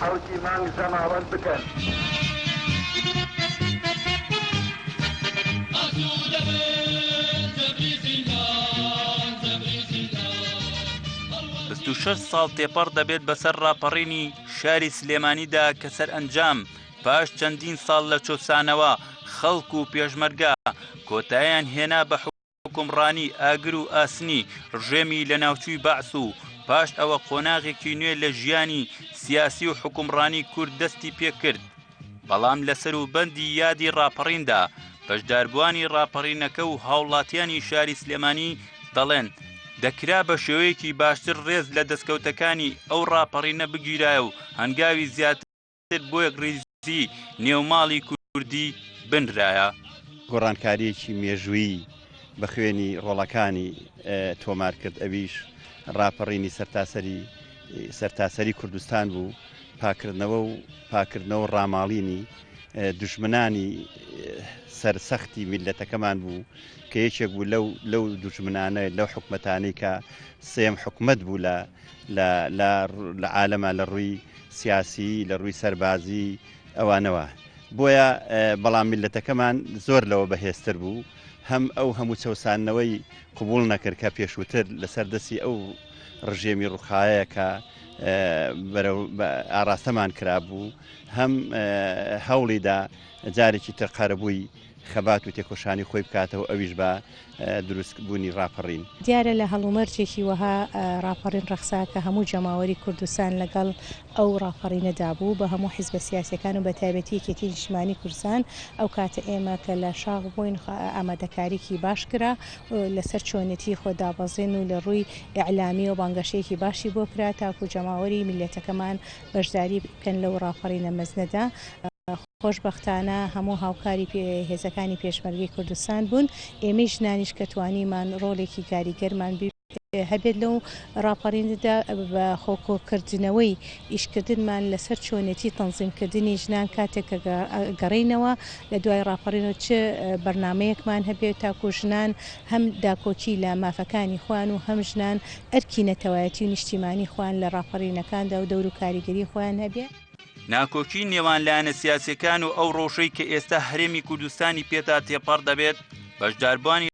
خەڵکی مانگ زەماوەند بکەن. بیست و شەش ساڵ تێپەڕ دەبێت بەسەر ڕاپەڕینی شاری سلێمانیدا کە سەرئەنجام پاش چەندین ساڵ لە چۆسانەوە خەڵک و پێشمەرگە کۆتایان هێنا بە حوکمڕانی ئاگر و ئاسنی ڕژێمی لە ناوچووی بەعس و پاش ئەوە قۆناغێکی نوێ لە ژیانی سیاسی و حوکمڕانی کورد دەستی پێکرد بەڵام لە سەروبەندی یادی ڕاپەڕیندا بەشداربووانی ڕاپەڕینەکە و هاوڵاتیانی شاری سلێمانی دەڵێن دەکرا بە شێوەیەکی باشتر ڕێز لە دەستکەوتەکانی ئەو ڕاپەڕینە بگیرایە و هەنگاوی زیاتر تر بۆ یەکڕیزی نێوماڵی کوردی بنرایە. گۆڕانکارییەکی مێژوویی بە خوێنی ڕۆڵەکانی تۆمار کرد، ئەویش ڕاپەڕینی سەرتاسەری سەرتاسەری کوردستان بوو، پاککردنەوە و پاککردنەوە و ڕاماڵینی دوژمنانی سەر سەختی میللەتەکەمان بوو کە یەکێک بوو لەو لەو دوژمنانە لەو حکومەتانەی کە سێم حکومەت بوو لە لە لە لە عالەمە لە ڕووی سیاسی لە ڕووی سەربازی ئەوانەوە بۆیە بەڵام میلەتەکەمان زۆر لەوە بەهێزتر بوو هەم ئەو هەموو چەسانەوەی قوبول نەکرد کە پێشووتر لەسەر دەستی ئەو ڕژێمی ڕوخایە کە ئاراستەمان کرابوو هەم هەوڵیدا جارێکی تر قەرەبووی خەبات و تێکۆشانی خۆی بکاتەوە ئەویش بە دروست بونی ڕاپەڕین. دیارە لە هەڵومەرجێکی وەها ڕاپەڕین ڕەخسا کە هەموو جەماوەری کوردستان لەگەڵ ئەو ڕاپەڕینە دا بوو بە هەموو حیزبە سیاسیەکان و بەتایبەتی یەکێتی نیشتمانی کوردستان ئەو کاتە ئێمە کە لە شاخ بووین ئامادەکاریکی باش کرا لە سەر چۆنێتی خۆ دابەزین و لە ڕووی ئیعلامیەوە بانگەشەیەکی باشی بۆ کرا تاکو جەماوەری میللەتەکەمان بەشداری بکەن لەو ڕاپەڕینە مەزنەدا. خۆشبەختانە هەموو هاوکاری هێزەکانی پێشمەرگەی کوردستان بوون، ئێمەی ژنانیش کە توانیمان ڕۆڵێکی کاریگەرمان هەبێت لەو ڕاپەڕینەدا، بە خۆ کۆکردنەوەی ئیشکردنمان لەسەر چۆنێتی تەنزیمکردنی ژنان کاتێک کە گەڕێینەوە لە دوای ڕاپەڕینەوە چ بەرنامەیەکمان هەبێت تاکو ژنان هەم داکۆکی لە مافەکانی خۆیان و هەم ژنان ئەرکی نەتەوایەتی و نیشتیمانی خۆیان لە ڕاپەڕینەکاندا و دەور و کاریگەری خۆیان هەبێت. ناکۆکی نێوان لایەنە سیاسەکان و ئەو ڕۆژەی کە ئێستا هەرێمی کوردستانی پێتا تێپەڕ دەبێت بەشداربانی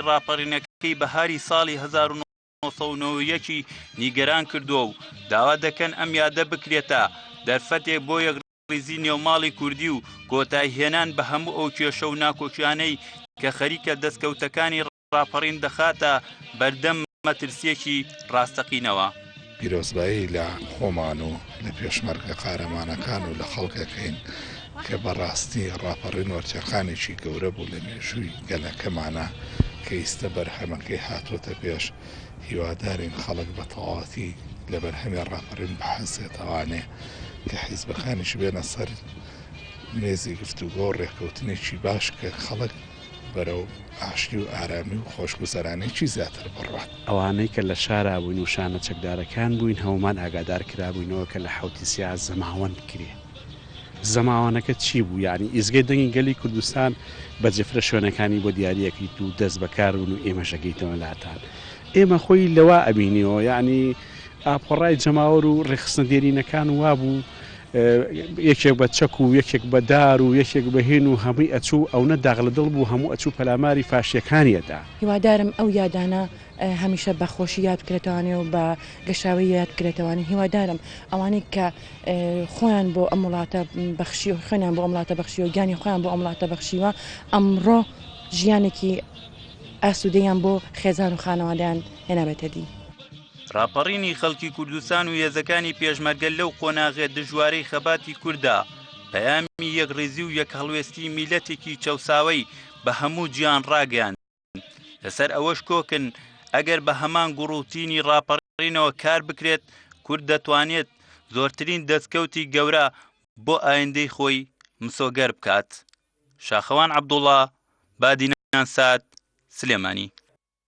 ڕاپەڕینەکەی بەهاری ساڵی 1990ەکی نیگەران کردووە و داوا دەکەن ئەم یادە بکرێتە دەرفەتێک بۆ یەک ریزی نێوماڵی کوردی و کۆتای هێنان بە هەموو ئەو کێشە و ناکۆکیانەی کە خەریکە دەستکەوتەکانی ڕاپەڕین دەخاتە بەردەم مەترسییەکی ڕاستەقینەوە. پیرۆزبایی لە خۆمان و لە پێشمەرگە قارەمانەکان و لە خەڵکێک هەین کە بە ڕاستی ڕاپەڕین وەرچەرخانێکی گەورە بوو لە مێژووی گەلەکەمانا کە ئیستە بەرهەمەکەی هاتۆتە پێش هیوادارین خەڵک بە تەواوەتی لە بەرهەمی ڕاپەڕین بحەسێتەوانێ کە حیزبەکانیش بێنە سەر مێزی گفتوگۆ و ڕێکەوتنێکی باش کە خەڵک بەرەو ئاشتی و ئارامی و خۆشگوزەرانێکی زیاتر بڕوات. ئەوانەی کە لە شارا بووین و شانە چەکدارەکان بووین هەموومان ئاگادار کرابووینەوە کە لە حەوتی سیاز زەماوەند بکرێ. زەماوەنەکە چی بوو؟ یانی ئیزگەی دەنگی گەلی کوردستان بە جفرە شوێنەکانی بۆ دیاری ئەکریت و دەست بە کار بن و ئێمەش ئەگەیتەوە لاتان. ئێمە خۆی لەوا ئەبینیەوە یانی ئاپۆڕای جەماوەر و رێکخستنە دێرینەکان وا بوو یەکێک بە چەک و یەکێک بە دار و یەکێک بە هین و هەمووی ئەچوو، ئەونە داغ لە دڵ بوو هەموو ئەچوو پەلاماری فاشییەکانی ئەدا. هیوادارم ئەو یادانە هەمیشە بە خۆشی یاد بکرێتەوانێ و بە گەشاوەیی یاد بکرێتەوانێ، هیوادارم ئەوانەی کە خۆیان بۆ ئەم وڵاتە بەخشی و خوێنیان بۆ ئەم وڵاتە بەخشیوە، گیانی خۆیان بۆ ئەم وڵاتە بەخشیوە، ئەمڕۆ ژیانێکی ئاسوودەیان بۆ خێزان و خانەوادەیان هێنابێتە دی. ڕاپەڕینی خەڵکی کوردستان و هێزەکانی پێشمەرگە لەو قۆناغێ دژوارەی خەباتی کووردا پەیامی یەکڕیزی و یەک هەڵوێستی میلەتێکی چەساوەی بە هەموو جیان ڕاگەیان لەسەر ئەوەش کۆکن ئەگەر بە هەمان گوڕوتینی ڕاپەڕینەوە کار بکرێت کورد دەتوانێت زۆرترین دەستکەوتی گەورە بۆ ئایندەی خۆی مسۆگەر بکات شاخەوان عبدوڵا بادینان سات سلێمانی